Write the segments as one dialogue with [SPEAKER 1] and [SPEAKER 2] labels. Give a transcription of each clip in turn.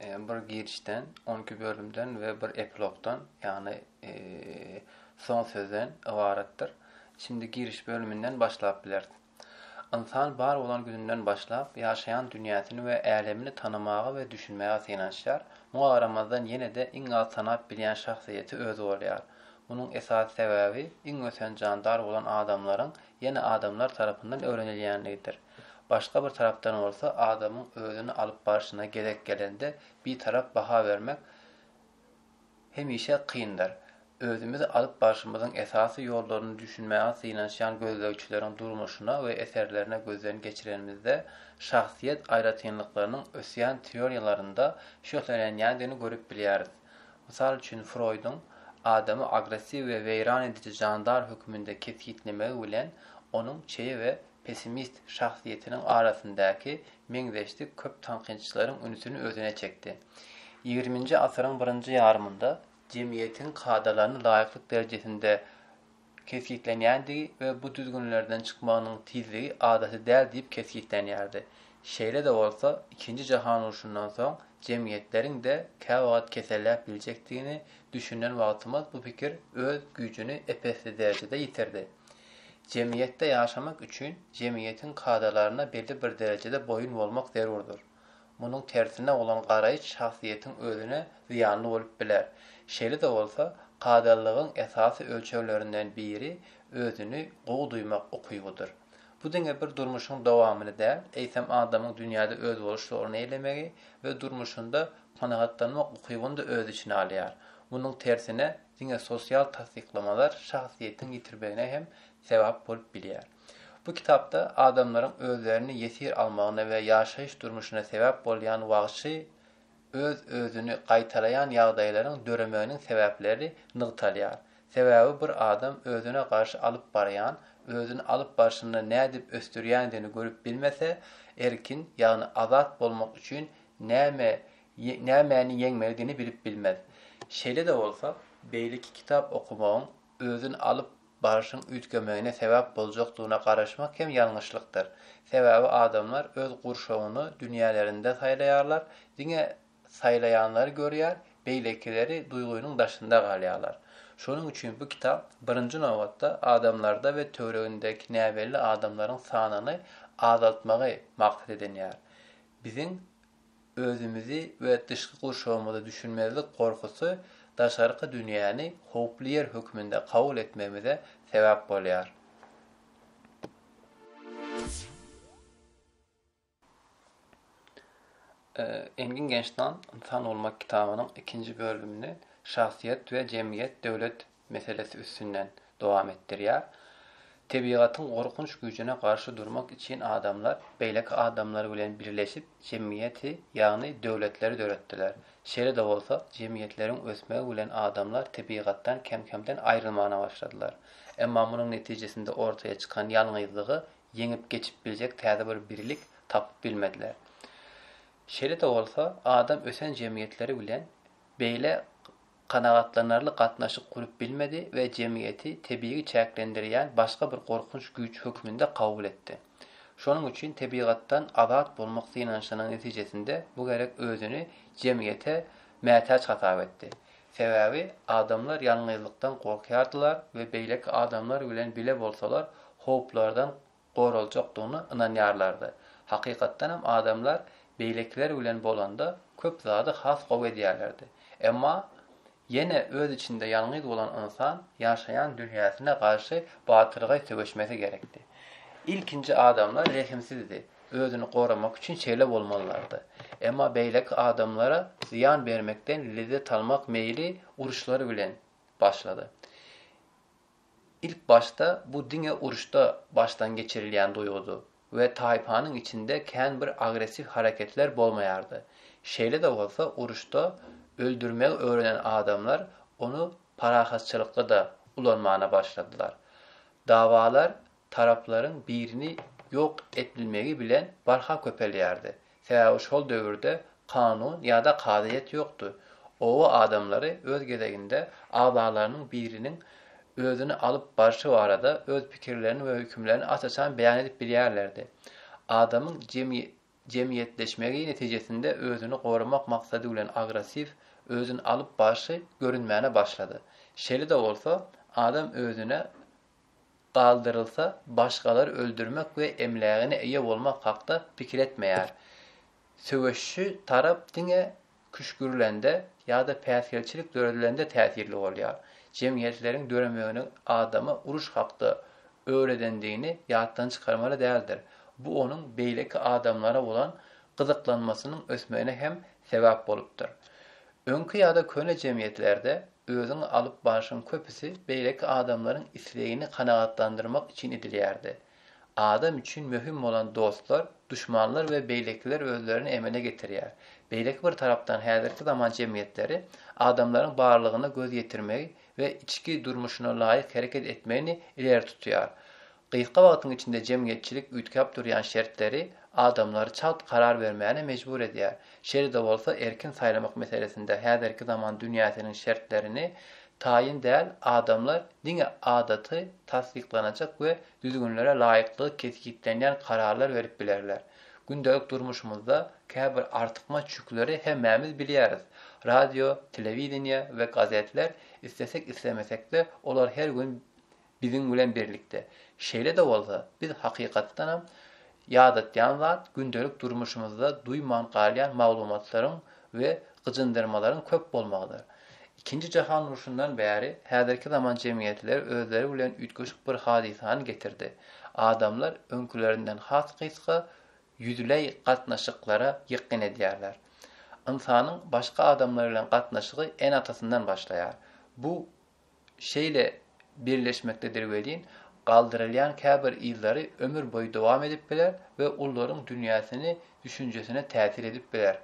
[SPEAKER 1] Bir girişden, on iki bölümden we bir epilogdan, ýagny soň sözden ybaratdyr. Şindi giriş bölüminden başlap bileris. Ynsan bar bolan gününden başlap, ýaşaýan dünýäsini we älemini tanamaga we düşünmäge synanyşýar. Muňa garamazdan ýene-de iň az tanap bilýän şahsyýeti özi bolýar. Munuň esasy sebäbi iň ösen jandar bolan adamlaryň ýene adamlar tarapyndan öwrenilýänligidir. Başga bir tarapdan bolsa adamyň özüni alyp barşyna gezek gelende bitarap baha bermek hemişe kyndyr. Özümizi alyp barşymyzyň esasy ýollaryny düşünmäge synanyşýan gözlegçileriň durmuşyna we eserlerine gözden geçirenimizde şahsyýet aýratynlyklarynyň ösýän teoriýalarynda şöhlelenýändigini görüp bilýäris. Mysal üçin Froýduň adamy agressiw we weýran ediji jandar höküminde kesgitlemegi bilen onuň çeýe we pessimist şahsyýetiniň arasyndaky meňzeşlik köp tankytçylaryň ünsüni özüne çekdi. Ýigriminji asyryň birinji ýarymynda jemgyýetiň kadalaryny laýyklyk derejesinde kesgitlenýändigi we bu düzgünlerden çykmagynyň tizligi adaty däl diýip kesgitlenýärdi. Şeýle-de bolsa, Ikinji jahan urşundan soň jemgyýetleriň-de käwagt keselläp biljekdigini düşünen wagtymyz bu pikir öz güýjüni ep-esli derejede ýitirdi. Jemgyýetde ýaşamak üçin jemgyýetiň kadalaryna belli bir derejede boýun bolmak zerurdyr. Munuň tersine bolan garaýyş şahsyýetiň özüne zyýanly bolup biler. Şeýle-de bolsa, kadalylygyň esasy ölçeglerinden biri özüni gowy duýmak ukybydyr. Bu diňe bir durmuşyň dowamyny däl, eýsem adamyň dünýäde özboluşly orun eýlemegi we durmuşynda kanagatlanmak ukybyny-da öz içine alýar. Munuň tersine, Diňe sosial tassyklamalar şahsyýetiň ýitirmegine hem sebap bolup bilýär. Bu kitapda adamlaryň özlerini ýesir almagyna we ýaşaýyş durmuşyna sebäp bolýan wagşy, öz-özüni gaýtalaýan ýagdaýlaryň döremeginiň sebäpleri nygtalýar. Sebäbi bir adam özüne garşy alyp barýan, özüni alyp barşynda nädip ösdürýändigini görüp bilmese, erkin, ýagny azat bolmak üçin näme nämäni ýeňmeligini bilip bilmez. Şeýle-de bolsa, beýleki kitap okamagyň özüni alyp barşyň üýtgemegine sebäp boljakdygyna garaşmak hem ýalňyşlykdyr. Sebäbi adamlar öz gurşawyny dünýälerinde saýlaýarlar, diňe saýlaýanlary görýär, beýlekileri duýgynyň daşynda galýarlar. Şonuň üçin bu kitap, birinji nobatda, adamlarda we töweregindäki näbelli adamlaryň sanyny azaltmagy maksat edinýär. Biziň Özümizi we dyşky gurşawymyzy düşünmezlik gorkusy daşarky dünýäni howply ýer hökmünde kabul etmegimize sebäp bolýar. Engin Gençdan Ynsan bolmak kitabynyň ikinji bölümini Şahsyýet we jemgyýet döwlet meselesi üstünden dowam etdirýär. Tebigatyň gorkunç güýjüne garşy durmak üçin adamlar beýleki adamlar bilen birleşip jemgyýeti, ýagny döwletleri döretdiler. Şeýle-de bolsa, jemgyýetleriň ösmegi bilen adamlar tebigatdan kem-kemden aýrylmana başladylar. Emma munuň netijesinde ortaýa çykan ýalňyzlygy ýeňip geçip biljek täze bir birlik tapyp bilmediler. Şeýle-de bolsa, adam ösen jemgyýetleri bilen beýle kanagatlanarly gatnaşyk gurup bilmedi we jemgyýeti tebigy çäklendirýän başga bir gorkunç güýç hökmünde kabul etdi. Şonuň üçin tebigatdan azat bolmak synanyşynyň netijesinde bu gerek özüni jemgyýete mätäç hasap etdi. Sebäbi adamlar ýalňyzlykdan gorkýardylar we beýleki adamlar bilen bile bolsalar howplardan goraljakdygyna ynanýarlardy. Hakykatdan hem adamlar beýlekiler bilen bolanda köp zady has gowy edýärlerdi. Emma ýene öz içinde ýalňyz bolan ynsan ýaşaýan dünýäsine garşy batyrgaý söweşmesi gerekdi. Ilkinji adamlar rehimsizdi, özüni goramak üçin şeýle bolmalylardy. Emma beýleki adamlara zyýan bermekden lezzet almak meýli uruşlar bilen başlady. Ilk başda bu diňe uruşda başdan geçirilýän duýgudy we taýpanyň içinde kän bir agressiw hareketler bolmaýardy. Şeýle-de bolsa uruşda öldürmegi öwrenen adamlar ony parahatçylykda-da ulanmana başladylar. Dawalar taraplaryň birini ýok etbilmegi bilen barha köpelýärdi. Sebäbi şol döwürde kanun ýa-da kazyýet ýokdy. Oba adamlary öz gezeginde agzalarynyň biriniň özüni alyp barşy barada öz pikirlerini we hökümlerini aç-açan beýan edip bilýärlerdi. Adamyň jemgyýetleşmegi netijesinde özüni goramak maksady bilen agressiw özüni alyp barşy görünmäne başlady. Şeýle-de bolsa, adam özüne galdyrylsa, başgalary öldürmek we emlägine eýe bolmak hakda pikir etmeýär. Söweşçi tarap diňe küşgürilende ýa-da päsgelçilik döredilende täsirli bolýar. Jemgyýetleriň döremegine adama uruş hakda öwredendigini ýatdan çykarmaly däldir. Bu onuň beýleki adamlara bolan gyzyklanmasynyň ösmegine hem sebäp bolupdyr. Öňki ýa-da köne jemgyýetlerde özüň alyp barşyň köpüsi beýleki adamlaryň islegini kanagatlandyrmak üçin edilýärdi. Adam üçin möhüm bolan dostlar, duşmanlar we beýlekiler özlerini emele getirýär. Beýleki bir tarapdan häzirki zaman jemgyýetleri adamlaryň barlygyna göz ýetirmegi we içki durmuşyna laýyk hereket etmegini ileri tutýar. Gysga wagtyň içinde jemgyýetçilik üýtgäp durýan şertleri adamlary çalt karar bermäne mejbur edýär, şeýle-de bolsa erkin saýlamak meselesinde häzirki zaman dünýäsiniň şertlerini taýyn däl adamlar diňe adaty tassyklanajak we düzgünlere laýyklygy kesgitlenýän kararlar berip bilerler. Gündelik durmuşymyzda käbir artykmaç ýükleri hemmämiz bilýäris, radio, telewideniýe we gazetler islesek-islemesek-de olar her gün Biziň bilen birlikde. Şeýle-de bolsa, biz hakykatdanam ýadatýan zat gündelik durmuşymyzda duýman galýan maglumatlaryň we gyjyndyrmalaryň köp bolmagydyr. Ikinji jahan urşundan bäri häzirki zaman jemgyýetleri özleri bilen üýtgeşik bir hadysany getirdi. Adamlar öňkülerinden has gysga ýüzleý gatnaşyklara ýykgyn edýärler. Ynsanyň başga adamlar bilen gatnaşygy ene-atasyndan başlaýar. Bu şeýle birleşmekdedir welin, galdyrylýan käbir yzlary ömür boýy dowam edip biler we ullaryň dünýäsini, düşünjesine täsir edip biler.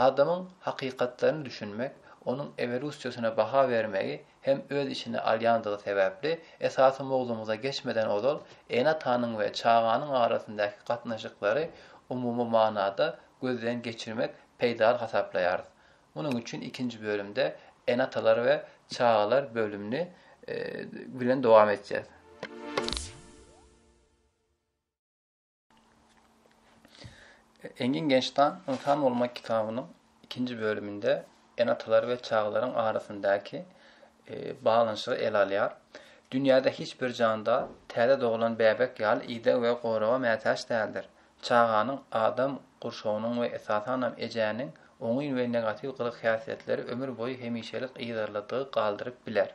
[SPEAKER 1] Adamyň hakykatlaryny düşünmek, onuň ewolusiýasyna baha bermegi hem öz içine alýandygy sebäpli, esasy mowzumyza geçmeden ozal, ene-atanyň we çaganyň arasyndaky gatnaşyklary umumy manada gözden geçirmek peýdaly hasaplaýarys. Munuň üçin ikinji bölümde Ene-atalar we çagalar bölümini bilen dowam etjäs. Engin Gençtan Ynsan bolmak kitabynyň ikinji bölüminde Ene-atalar we çagalaryň arasyndaky baglanyşygy ele alýar. Dünýäde hiç bir jandar täze doglan bäbek ýaly ideg we goraga mätäç däldir. Çaganyň adam gurşawynyň we esasanam ejäniň oňyn we negatiw gylyk-häsiýetleri ömür boýy hemişelik yzarladygy galdyryp biler.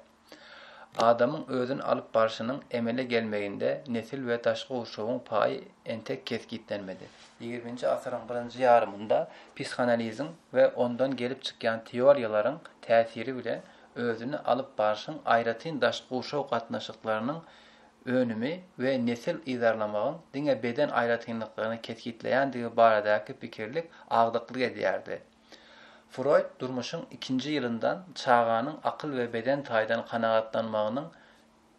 [SPEAKER 1] Adamyň özüni alyp barşynyň emele gelmeginde nesil we daşky gurşawyň paýy entek kesgitlenmedi. Ýigriminji asyryň birinji ýarymynda psihanaliziň we ondan gelip çykýan teoriýalaryň täsiri bilen özüni alyp barşyň aýratyn daşky gurşaw gatnaşyklarynyň önümi we nesil yzarlamagyň diňe beden aýratynlyklaryny kesgitleýändigi baradaky pikirlik agdyklyk edýärdi. Froýd durmuşyň ikinji ýylyndan çaganyň akyl we beden taýdan kanagatlanmagynyň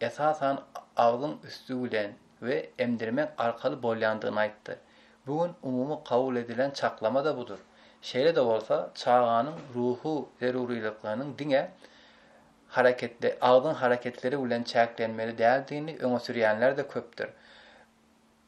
[SPEAKER 1] esasan agzyň üsti bilen we emdirmek arkaly bolýandygyny aýtdy. Bu gün umumy kabul edilen çaklama-da budur. Şeýle-de bolsa, çaganyň ruhy zerurylyklarynyň diňe hareketde agzyň hareketleri bilen çäklenmeli däldigini öňe sürýänler-de köpdür.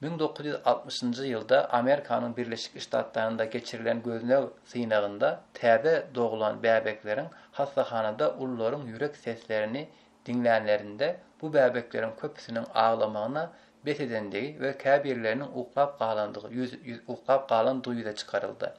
[SPEAKER 1] Müň dokuz ýüz altmyşynjy ýylda Amerikanyň Birleşik Ştatlarynda geçirilen gözleg synagynda täze doglan bäbekleriň hassahanada ulularyň ýürek seslerini diňlänlerinde bu bäbekleriň köpüsiniň aglamagyna bes edendigi we käbirleriniň uklap galandygy ýüz ýüz uklap galandygy ýüze çykaryldy.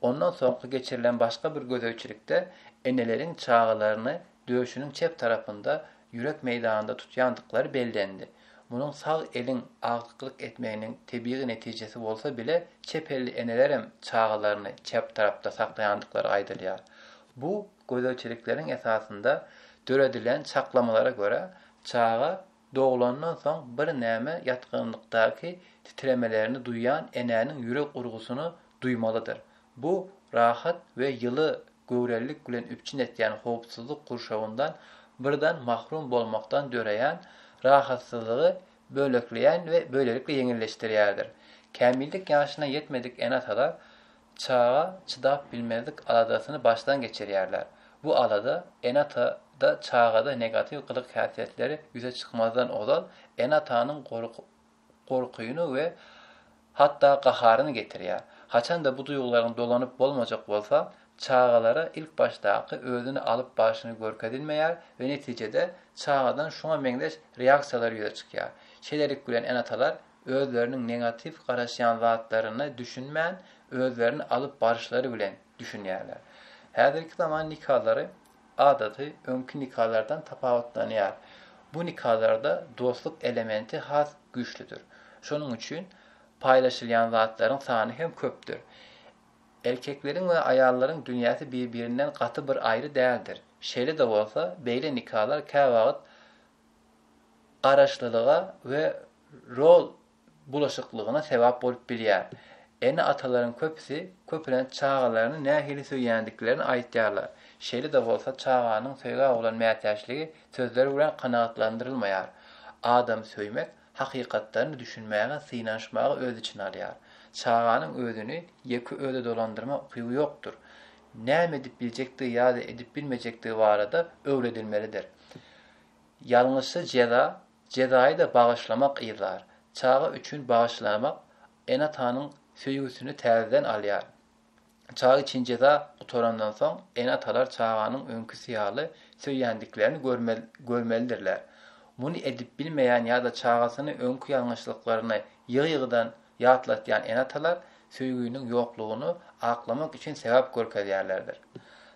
[SPEAKER 1] Ondan soňky geçirilen başga bir gözegçilikde eneleriň çagalaryny döşüniň çep tarapynda ýürek meýdanynda tutýandyklary bellendi. Munuň sag eliň aglyklyk etmeginiň tebigy netijesi bolsa bile, çep elli enelerem çagalaryny çep tarapda saklaýandyklary aýdylýar. Bu gözegçilikleriň esasynda döredilen çaklamalara görä, çaga Doglandan soň birneme ýatgynlykdaky titremelerini duýan enäniň ýürek urgusyny duýmalydyr. Bu rahat we ýyly göwrelilik bilen üpjün etýän howpsuzlyk gurşawyndan birden mahrum bolmakdan döreýän rahatsyzlygy bölekleýän we böylelikle ýeňilleşdirýärdir. Kämillik ýaşyna ýetmedik ene-atalar Çaga çydap bilmezlik aladasyny başdan geçirýärler. Bu alada ene-atada çagada negatiw gylyk-häsiýetleri ýüze çykmazdan ozal ene-atanyň gorkyny we hatda gaharyny getirýär. Haçanda bu duýgularyň dolanyp bolmajak bolsa, çagalara ilkbaşdaky özüni alyp barşyny görkezilmeýär we netijede çagadan şuňa meňzeş reaksiýalar ýüze çykýar. Şeýlelik bilen ene-atalar özleriniň negatiw garaşýan zatlaryna düşünmän, özlerini alyp baryşlary bilen düşünýärler. Häzirki zaman nikalary adaty öňki nikalardan tapawutlanýar. Bu nikalarda dostluk elementi has güýçlüdir. Şonuň üçin paýlaşylýan zatlaryň sany hem köpdür. Erkekleriň we aýallaryň dünýäsi bir-birinden gaty bir aýry däldir. Şeýle-de bolsa, beýle nikalar käwagt garaşlylyga we rol bulaşyklygyna sebäp bolup bilýär. Ene-atalaryň köpüsi köplenç çagalaryny nähili söýýändiklerini aýtýarlar. Şeýle-de bolsa, çaganyň söýgä bolan mätäçligi sözler bilen kanagatlandyrylmaýar. Adamy söýmek hakykatlaryny düşünmäge synanyşmagy öz içine alýar. Çaganyň özüni ýeke özi dolandyrma ukyby ýokdur. Näme edip biljekdigi ýa-da edip bilmejekdigi barada öwredilmelidir. Ýalňyşsa jeza, jezaýy-da bagyşlamak yzar. Çaga üçin bagyşlamak ene-atanyň söýgüsini täzeden alýar. Çaga üçin jeza gutarandan soň, ene-atalar çaganyň öňküsi ýaly söýýändiklerini görmelidirler. Muny edip bilmeýän ýa-da çagasyny öňki ýalňyşlyklaryny ýygy-ýygydan ýatlatýan ene-atalar söýginiň ýoklugyny aklamak üçin sebäp görkezýärlerdir.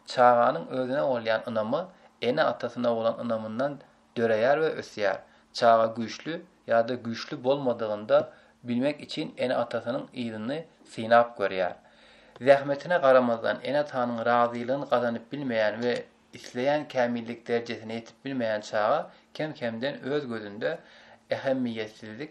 [SPEAKER 1] Çaganyň özüne bolýan ynamy ene-atasyna bolan ynamyndan döreýär we ösýär. Çaga güýçli ýa-da güýçli bolmadygyny bilmek üçin ene-atasynyň yzyny synap görýär. Zähmetine garamazdan, ene-atanyň razylygyny gazanyp bilmeýän we isleýän kämillik derejesine ýetip bilmeýän çaga kem-kemden öz gözünde ähemmiýetsizlik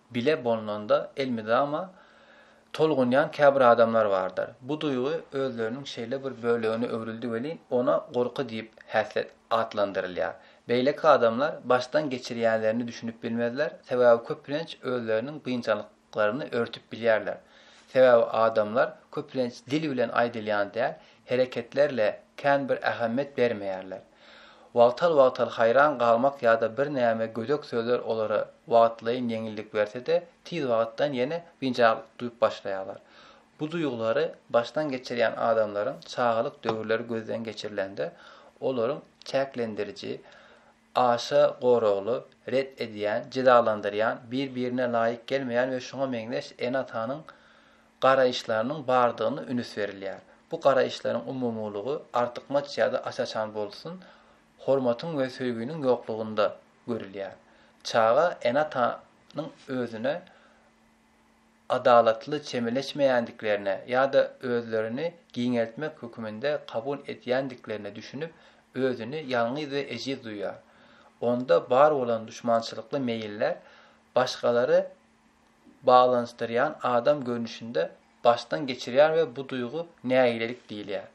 [SPEAKER 1] Bile bolnanda elmydama tolgunýan käbir adamlar bardyr. Bu duýgy özleriniň şeýle bir bölegine öwrüldi welin, ona gorky diýip häslet atlandyrylýar. Beýleki adamlar başdan geçirýänlerini düşünip bilmezler, sebäbi köplenç özleriniň biynjalyklaryny örtüp bilýärler. Sebäbi adamlar köplenç dil bilen aýdylýan däl, hereketlerle kän bir ähemmet bermeýärler. Wagtal-wagtal haýran galmak ýa-da birnäme gödek sözler olara wagtlaýyn ýeňillik berse-de, tiz wagtdan ýene biynjalyk duýup başlaýarlar. Bu duýgulary başdan geçirýän adamlaryň çagalyk döwürleri gözden geçirilende, olaryň çäklendiriji, Aşa goragly, ret edýän, jezalandyrýan, bir-birine laýyk gelmeýän we şuňa meňzeş ene-atanyň garaýyşlarynyň bardygyna ünüs berilýär. Bu garaýyşlaryň umumylygy artykmaç ýa-da aç-açan bolsun, hormatyň we söýginiň ýoklugynda görülýär. Çaga ene-atanyň özüne adalatly çemeleşmeýändiklerine ýa-da özlerini giňeltmek höküminde kabul edýändiklerine düşünip, özüni ýalňyz we ejiz duýýar. Onda bar bolan duşmançylykly meýiller başgalary baglanyşdyrýan adam görnüşinde başdan geçirýär we bu duýgy nägilelik diýilýär.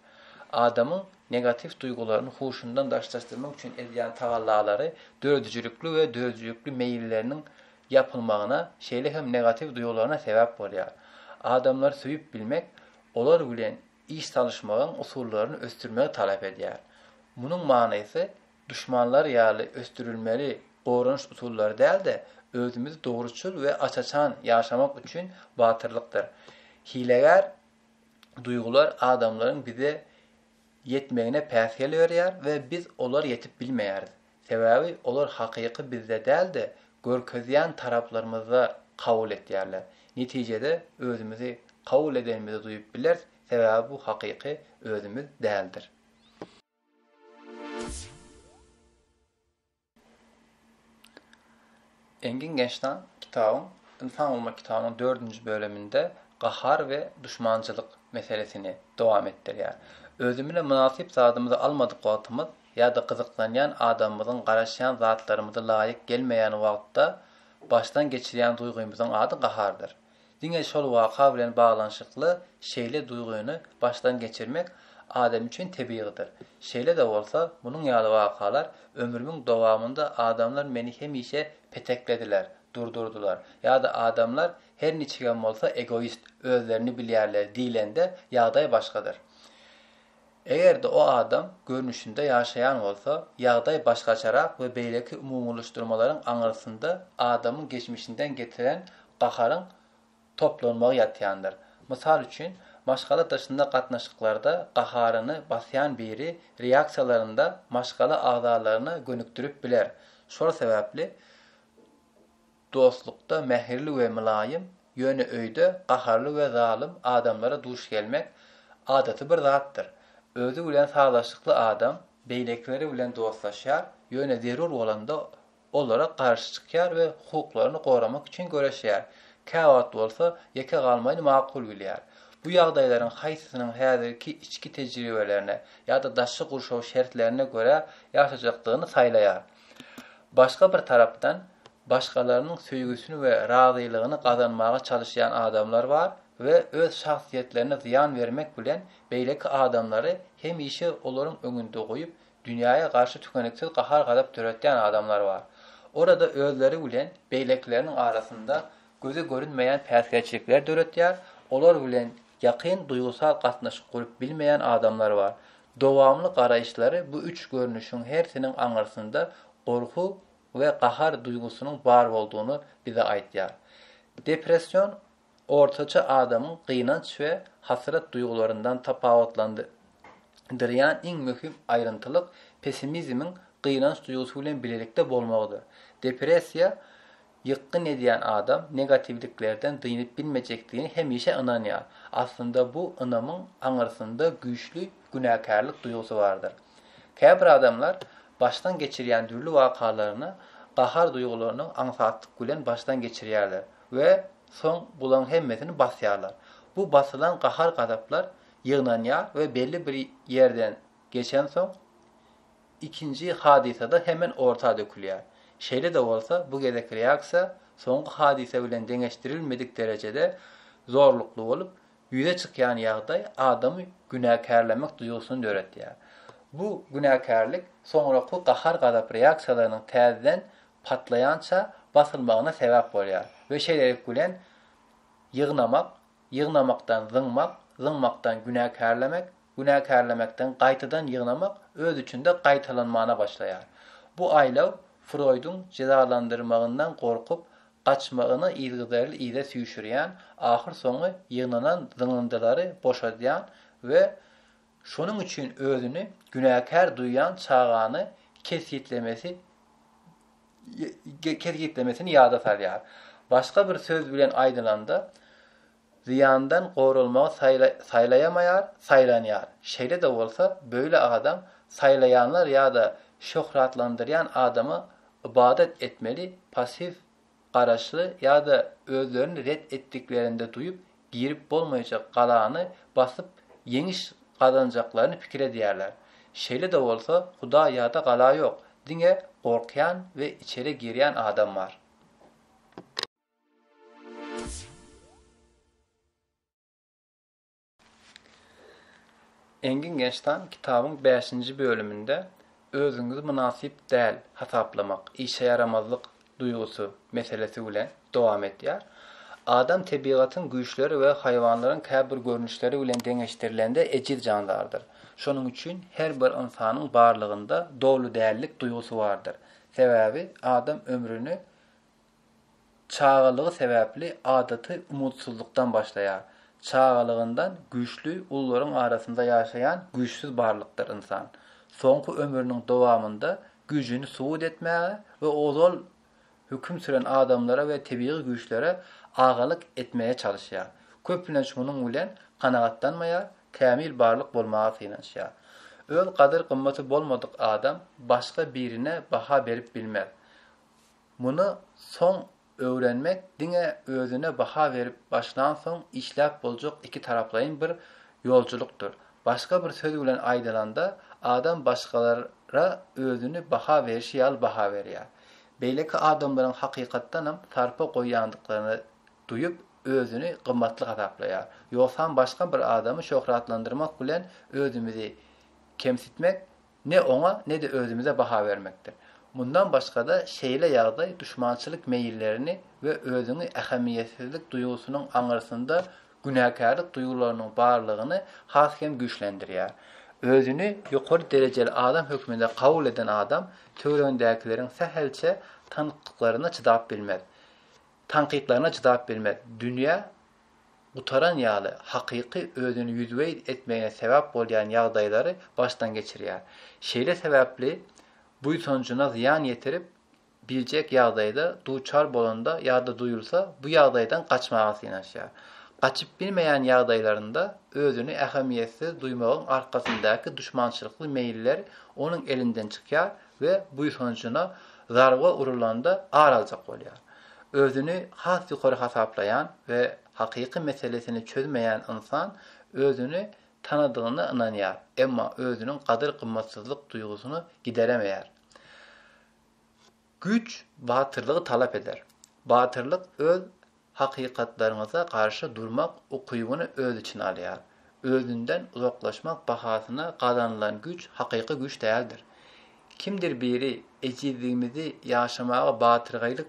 [SPEAKER 1] Adamyň negatiw duýgularyny huşundan daşlaşdyrmak üçin edýän tagallalary döredijilikli we döredijilikli meýilleriniň ýapylmagyna, şeýle hem negatiw duýgularyna sebäp bolýar. Adamlary söýüp bilmek olar bilen iş salyşmagyň usullaryny ösdürmegi talap edýär. Munuň manysy duşmanlar ýaly ösdürilmeli goranyş usullary däl-de, özümizi dogruçyl we aç-açan ýaşamak üçin batyrlykdyr. Hilegär duýgular adamlaryň bize ýetmegine päsgel berýär we biz olar ýetip bilmeýäris. Sebäbi olar hakyky bizde däl-de, görkezýän taraplarymyzda kabul etýärler. Netijede özümizi kabul edenimizi duýup bileris, sebäbi bu hakyky özümiz däldir. Engin Gençtan kitabyň Ynsan bolmak kitabynyň dördünji böleminde gahar we duşmançylyk meselesini dowam etdirýär. Özümine mynasyp zadymyzy almadyk wagtymyz ýa-da gyzyklanýan adamymyzyň garaşýan zatlarymyzy laýyk gelmeýän wagtda başdan geçirýän duýgymyzyň ady gahardyr. Diňe şol waka bilen baglanyşykly şeýle duýgyny başdan geçirmek adam üçin tebigydyr. Şeýle-de bolsa, munuň ýaly wakalar ömrümiň dowamynda adamlar meni hemişe peteklediler, durdurdylar ýa-da adamlar her niçigem bolsa egoist, özlerini bilýärler diýlende ýagdaý başgadyr. Eger-de o adam görnüşinde ýaşaýan bolsa, ýagdaý başgaçarak we beýleki umumylaşdyrmalaryň aňyrsynda adamyň geçmişinden getiren gaharyň toplanmagy ýatýandyr. Mysal üçin, maşgala daşynda gatnaşyklarda gaharyny basýan biri reaksiýalarynda maşgala agzalaryna gönükdirip biler. Şol sebäpli. Dostlukda mähirli we mylaýym, ýöne öýde gaharly we zalym adamlara duş gelmek adaty bir zatdyr. Özi bilen sazlaşykly adam beýlekileri bilen dostlaşýar, ýöne zerur bolanda olara garşy çykýar we hukuklaryny goramak üçin göreşýär, käwagt bolsa ýeke galmagyny makul bilýär. Bu ýagdaýlaryň haýsysynyň häzirki içki tejribelerine ýa-da daşky gurşaw şertlerine görä ýaşajakdygyny saýlaýar. Başga bir tarapdan, başgalarynyň söýgüsini we razylygyny gazanmaga çalyşýan adamlar bar we öz şahsyýetlerine zyýan bermek bilen beýleki adamlary hemişe olaryň öňünde goýup, dünýäe garşy tükeniksiz gahar-gazap döretýän adamlar bar. Orada özleri bilen beýlekileriniň arasynda göze görünmeýän päsgelçilikler döretýär, olar bilen ýakyn duýgusal gatnaşyk gurup bilmeýän adamlar bar. Dowamly garaýyşlary bu üç görnüşiň hersiniň aňyrsynda gorky we gahar duýgusynyň bar boldugyny bize aýdýar. Depression ortaça adamyň gynanç we hasrat duýgularyndan tapawutlandyrýan iň möhüm aýryntylyk pessimizmiň gynanç duýgusy bilen bilelikde bolmagydyr. Depressiýa Ýykgyn edýän adam negatiwliklerden dynyp bilmejekdigine hemişe ynanýar. Aslynda bu ynamyň aňyrsynda güýçli günäkärlik duýgusy bardyr. Käbir adamlar başdan geçirýän dürli wakalaryny gahar duýgularyny aňsatlyk bilen başdan geçirýärler we soň bulaň hemmesini basýarlar. Bu basylan gahar-gazaplar ýygnanýar we belli bir ýerden geçensoň Ikinji hadysada hemen orta dökülýär. Şeýle-de bolsa, bu gezekki reaksiýa soňky hadysa bilen deňeşdirilmedik derejede zorlukly bolup, ýüze çykýan ýagdaý adamy günäkärlemek duýgusyny döretýär. Bu günäkärlik soňraky gahar-gazap reaksiýalarynyň täzeden patlaýança basylmagyna sebäp bolýar we şeýlelik bilen ýygnamak ýygnamakdan zyňmak, zyňmakdan günäkärlemek, günäkärlemekden gaýtadan ýygnamak öz içinde gaýtalanmana başlaýar. Bu aýlaw Froýduň jezalandyrmagyndan gorkup, gaçmagyny yzgyderli yza süýşürýän, ahyrsoňy ýygnanan zyňyndylary boşadýan we Şonuň üçin özüni günäkär duýýan çagany kesgitlemesi kesgitlemesini ýada salýar. Başga bir söz bilen aýdylanda, zyýandan goralmagy saýla saýlaýamaýar, saýlanýar. Şeýle-de bolsa, böyle adam saýlaýanlar ýa-da şöhratlandyrýan adama ybadat etmeli, passiw garaşly ýa-da özlerini ret etdiklerinde duýup girip bolmaýjak galany basyp ýeňiş gazanjaklaryny pikir edýärler. Şeýle-de bolsa, huda ýa-da gala ýok, diňe gorkýan we içeri girýän adam bar. Engin Gençtan kitabyň bäşinji bölüminde özüňizi mynasyp däl hasaplamak, işe ýaramazlyk duýgusy meselesi bilen dowam edýär. Adam tebigatyň güýçleri we haýwanlaryň käbir görnüşleri bilen deňeşdirilende ejiz jandardyr. Şonuň üçin her bir ynsanyň barlygynda doly dällik duýgusy bardyr. Sebäbi adam ömrüni çagalygy sebäpli adaty umutsyzlykdan başlaýar. Çagalygyndan güýçli ulularyň arasynda ýaşaýan güýçsüz barlykdyr ynsan. Soňky ömrüniň dowamynda güýjüni subut etmäge we ozal höküm süren adamlara we tebigy güýçlere agalyk etmäge çalyşýar. Köplenç munuň bilen kanagatlanmaýar, kämil barlyk bolmaga synanyşýar. Öz gadyr-gymmaty bolmadyk adam başga birine baha berip bilmez. Muny soň öwrenmek diňe özüne baha berip başlansoň işläp boljak ikitaraplaýyn bir ýolculykdyr. Başga bir söz bilen aýdylanda, adam başgalara özüni baha berişi ýaly baha berýär. Beýleki adamlaryň hakykatdanam sarpa goýýandyklaryny duýup, özüni gymmatly hasaplaýar. Ýogsam başga bir adamy şöhratlandyrmak bilen özümizi kemsitmek Ne oňa, ne-de özümize baha bermekdir. Mundan başga-da, şeýle ýagdaý duşmançylyk meýillerini we özüňi ähmiýetsizlik duýgusynyň aňyrsynda günäkärlik duýgularynyň barlygyny has hem güýçlendirýär. Özüni ýokary derejeli adam hökmünde kabul eden adam töweregindäkileriň sähelçe tankytlaryna çydap bilmez. Tankytlaryna çydap bilmez. Dünýä gutaran ýaly hakyky özüni ýüzübeýt etmegine sebäp bolýan ýagdaýlary başdan geçirýär. Şeýle sebäpli buýsanjyna zyýan ýetirip biljek ýagdaýda duçar bolanda ýa-da duýulsa bu ýagdaýdan gaçmaga synanyşýar. Gaçyp bilmeýän ýagdaýlarynda özüni ähemiýetsiz duýmagyň arkasyndaky duşmançylykly meýiller onuň elinden çykýar, we buýsanjyna zarba urulanda ar aljak bolýar. Özüni has ýokary hasaplaýan we hakyky meselesini çözmeýän ynsan özüni tanadygyna ynanýar, emma özüniň gadyr-gymmatsyzlyk duýgusyny gideremeýär. Güýç batyrlygy talap eder. Batyrlyk öz hakykatlaryňyza garşy durmak ukybyny öz içine alýar. Özünden uzaklaşmak bahasyna gazanylan güýç hakyky güýç däldir. Kimdir biri ejizligimizi ýaşamaga batyrgaýlyk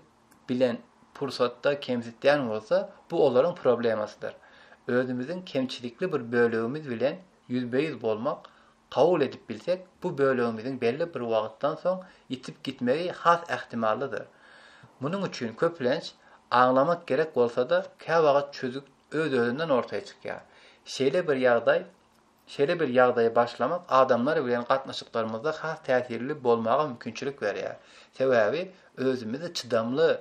[SPEAKER 1] bilen pursatda kemsitýän bolsa, bu olaryň problemasydyr. Özümiziň kemçilikli bir bölegimiz bilen ýüzbe-ýüz bolmak kabul edip bilsek, bu bölegimiziň belli bir wagtdan soň ýitip gitmegi has ähtimallydyr. Munuň üçin, köplenç, aňlamak gerek bolsa-da, käwagt çözgüt öz-özünden ortaýa çykýar. Şeýle bir ýagdaý, şeýle bir ýagdaýy başlamak adamlar bilen gatnaşyklarymyzda has täsirli bolmaga mümkinçilik berýär. Sebäbi özümizi çydamly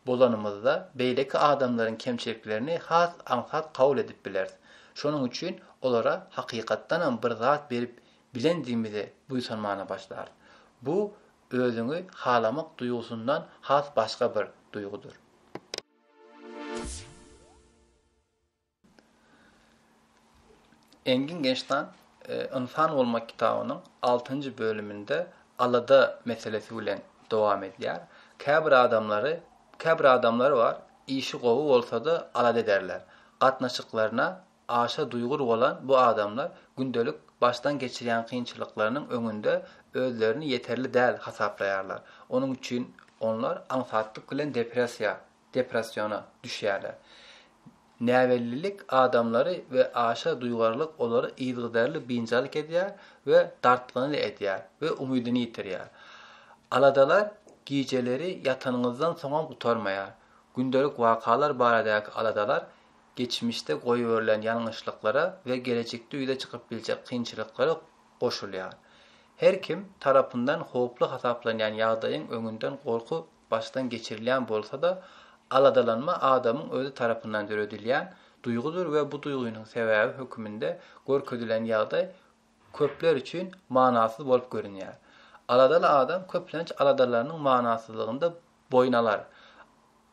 [SPEAKER 1] bolanymyzda, beýleki adamlaryň kemçiliklerini has aňsat kabul edip bileris. Şonuň üçin olara hakykatdanam bir zat berip bilendigimize buýsanmana başlarys. Bu özüňi halamak duýgusyndan has başga bir duýgudyr. Engin Gençtan Ynsan bolmak kitabynyň altynjy bölüminde alada meselesi bilen dowam edýär. Käbir adamlary, käbir adamlar bar, işi gowy bolsa-da alada ederler. Gatnaşyklaryna aşa duýgur bolan bu adamlar gündelik başdan geçirýän kynçylyklarynyň öňünde özlerini ýeterli däl hasaplaýarlar. Onuň üçin onlar aňsatlyk bilen depressiýa Depressiona düşýärler. Näbellilik adamlary we aşa duýgarlyk olary yzygiderli biynjalyk edýär we dartgynly edýär we umydyny ýitirýär. Aladalar gijeleri ýatanyňyzdan soňam gutarmaýar. Gündelik wakalar baradaky aladalar geçmişde goýberilen ýalňyşlyklara we gelejekde ýüze çykyp biljek kynçylyklara goşulýar. Her kim tarapyndan howply hasaplanýan ýagdaýyň öňünden gorky başdan geçirilýän bolsa-da, aladalanma adamyň özi tarapyndan döredilýän duýgudyr we bu duýgynyň sebäbi höküminde görkezilen ýagdaý köpler üçin manasyz bolup görünýär. Aladaly adam köplenç aladalarynyň manasyzlygynda boýun alar.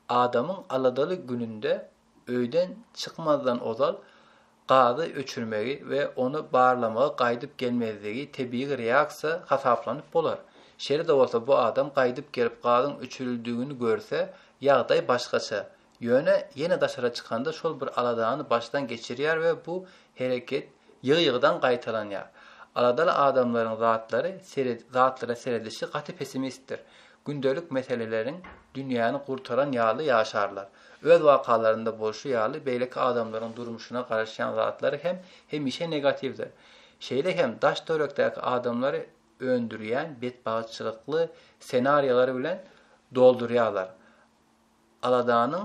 [SPEAKER 1] Adamyň aladaly gününde Öýden çykmazdan ozal gazy öçürmegi we ony barlamagy gaýdyp gelmezligi tebigy reaksiýa hasaplanyp bolar. Şeýle-de bolsa bu adam gaýdyp gelip gazyň öçürildigini görse, ýagdaý başgaça. Ýöne ýene daşara çykanda şol bir aladany başdan geçirýär we bu hereket ýygy-ýygydan gaýtalanýar. Aladaly adamlaryň zatlary zatlara seredişi gaty pessimistdir. Gündelik meseleleriň dünýäni gurtaran ýaly ýaşarlar. Öz wakalarynda bolşy ýaly, beýleki adamlaryň durmuşyna garaşýan zatlary hem hemişe negatiwdir. Şeýle hem daş-törekdäki adamlary öndürýän betbagtçylykly ssenariýalar bilen doldurýarlar. Aladanyň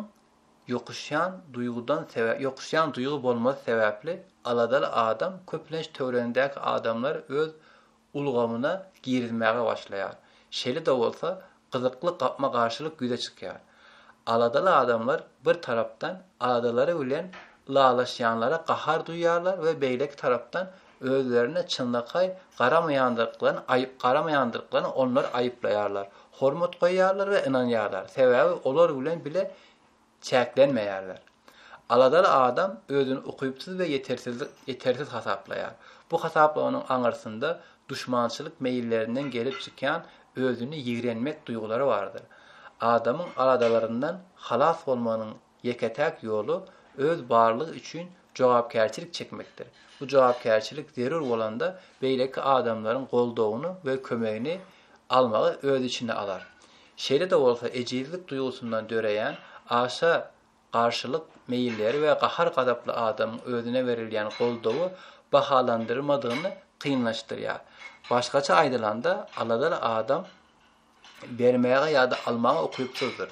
[SPEAKER 1] ýokuşýan duýgudan ýokuşýan duýgy bolmazy sebäpli aladaly adam köplenç töweregindäki adamlary öz ulgamyna girizmäge başlaýar. Şeýle-de bolsa, gyzykly gapma-garşylyk ýüze çykýar. Aladaly adamlar, bir tarapdan, aladalary bilen ylalaşýanlara gahar duýýarlar we beýleki tarapdan, özlerine çynlakaý garamaýandyklaryny aýyp garamaýandyklaryny onlary aýyplaýarlar. Hormat goýýarlar we ynanýarlar, sebäbi olar bilen bile çäklenmeýärler. Aladaly adam özüni ukypsyz we ýetersiz hasaplaýar. Bu hasaplamanyň aňyrsynda duşmançylyk meýillerinden gelip çykýan özüni ýigrenmek duýgulary bardyr. Adamyň aladalaryndan halas bolmagynyň ýeke-täk ýoly öz barlygy üçin jogapkärçilik çekmekdir. Bu jogapkärçilik zerur bolanda beýleki adamlaryň goldawyny we kömegini almagy öz içine alar. Şeýle-de bolsa ejizlik duýgusyndan döreýän aşa garşylyk meýilleri we gahar-gazaply adamyň özüne berilýän goldawy bahalandyrmadygyny kynlaşdyrýar. Başgaça aýdylanda, aladaly adam bermäge ýa-da almaga ukypsyzdyr.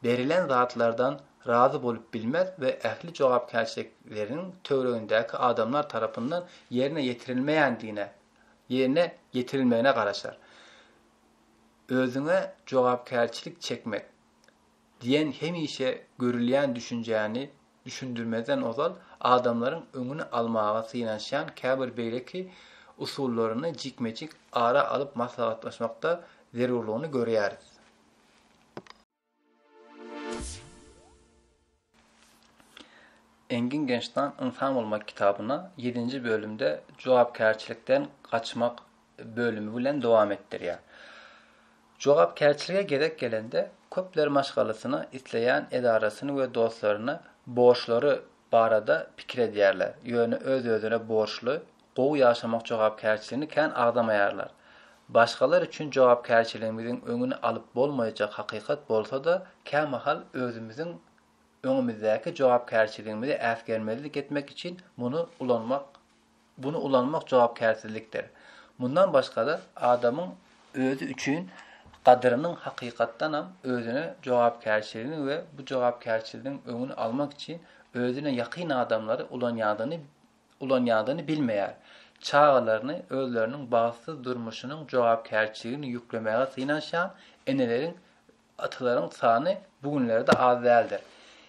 [SPEAKER 1] Berilen zatlardan razy bolup bilmez we ähli jogapkärçilikleriniň töweregindäki adamlar tarapyndan ýerine ýetirilmeýändigine, ýerine ýetirilmegine garaşar. özüňe jogapkärçilik çekmek diýen hemişe görülýän düşünjäni düşündirmezden ozal adamlaryň öňüni almaga synanyşýan käbir beýleki usullaryny jikme-jik ara alyp maslahatlaşmakda zerurlygyny görýäris. Engin Gençdan ynsan bolmak kitabyny ýedinji bölümde jogapkärçilikden gaçmak bölümi bilen dowam etdirýär. Jogapkärçilige gezek gelende, köpler maşgalasyny, isleýän edarasyny we dostlaryny borçlary barada pikir edýärler, ýöne öz-özüne borçly, gowy ýaşamak jogapkärçiligini kän agzamaýarlar. Başgalar üçin jogapkärçiligimiziň öňüni alyp bolmaýjak hakykat bolsa-da, kämahal özümiziň öňümizdäki jogapkärçiligimizi äsgermezlik etmek üçin muny ulanmak buny ulanmak jogapkärsizlikdir. Mundan başga-da, adamyň özi üçin gadyrynyň hakykatdanam özüne jogapkärçiligini we bu jogapkärçiligiň öňüni almak üçin özüne ýakyn adamlary ulanýandygyny ulanýandygyny bilmeýär. Çagalaryny özleriniň bagtsyz durmuşynyň jogapkärçiligini ýüklemäge synanyşýan eneleriň, atalaryň sany bu günlerde az däldir.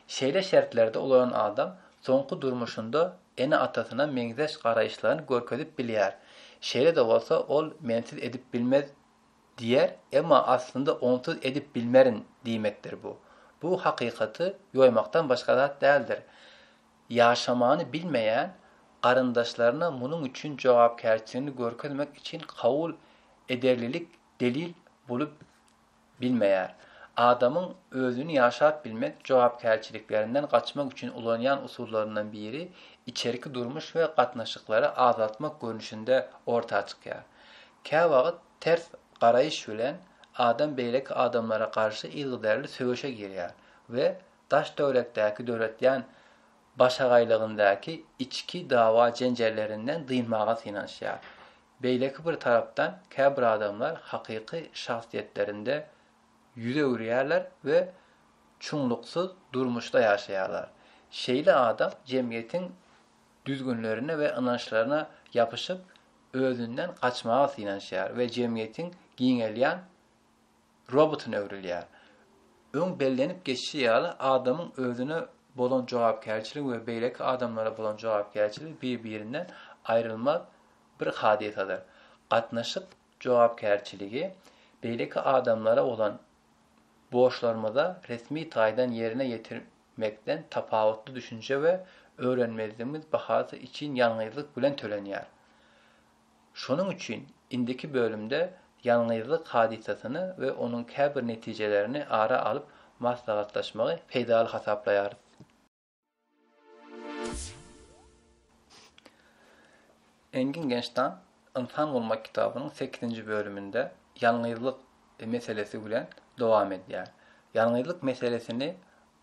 [SPEAKER 1] Şeýle şertlerde ulanan adam soňky durmuşynda ene-atasyna meňzeş garaýyşlaryny görkezip bilýär. Şeýle-de bolsa ol mensiz edip bilmez diýer, emma aslynda onsuz edip bilmerin diýmekdir bu. Bu hakykaty ýoýmakdan başga zat däldir. Ýaşamany bilmeýän garyndaşlaryna munuň üçin jogapkärçiligini görkezmek üçin kabul ederlilik delil bolup bilmeýär. Adamyň özüni ýaşap bilmek jogapkärçiliklerinden gaçmak üçin ulanýan usullaryndan biri içerki durmuş we gatnaşyklary azaltmak görnüşinde orta çykýar. Käwagt ters garaýyş bilen adam beýleki adamlara garşy yzygiderli söweşe girýär we daş-töwerekdäki döretýän başagaýlygyndaky içki dawa-jenjellerinden dynmaga synanyşýar. Beýleki bir tarapdan, käbir adamlar hakyky şahsyýetlerinde ýüz öwürýärler we çuňluksyz durmuşda ýaşaýarlar. Şeýle adam jemgyýetiň düzgünlerine we ynançlaryna ýapyşyp, özünden gaçmaga synanyşýar we jemgyýetiň giňelýän robotuna öwrülýär. Öň bellenip geçişi ýaly, adamyň özüne bolan jogapkärçiligi we beýleki adamlara bolan jogapkärçiligi bir-birinden aýrylmaz bir hadysadyr. Gatnaşyk jogapkärçiligi beýleki adamlara bolan borçlarymyza resmi taýdan ýerine ýetirmekden tapawutly düşünje we öwrenmezligimiz bahasy için ýalňyzlyk bilen tölenýär. Şonuň üçin indiki bölümde ýalňyzlyk hadysasyny we onuň käbir netijelerini ara alyp maslahatlaşmagy peýdaly hasaplaýarys. Engin Genştan Ynsan bolmak kitabynyň sekizinji bölüminde ýalňyzlyk meselesi bilen dowam edýär. Ýalňyzlyk meselesini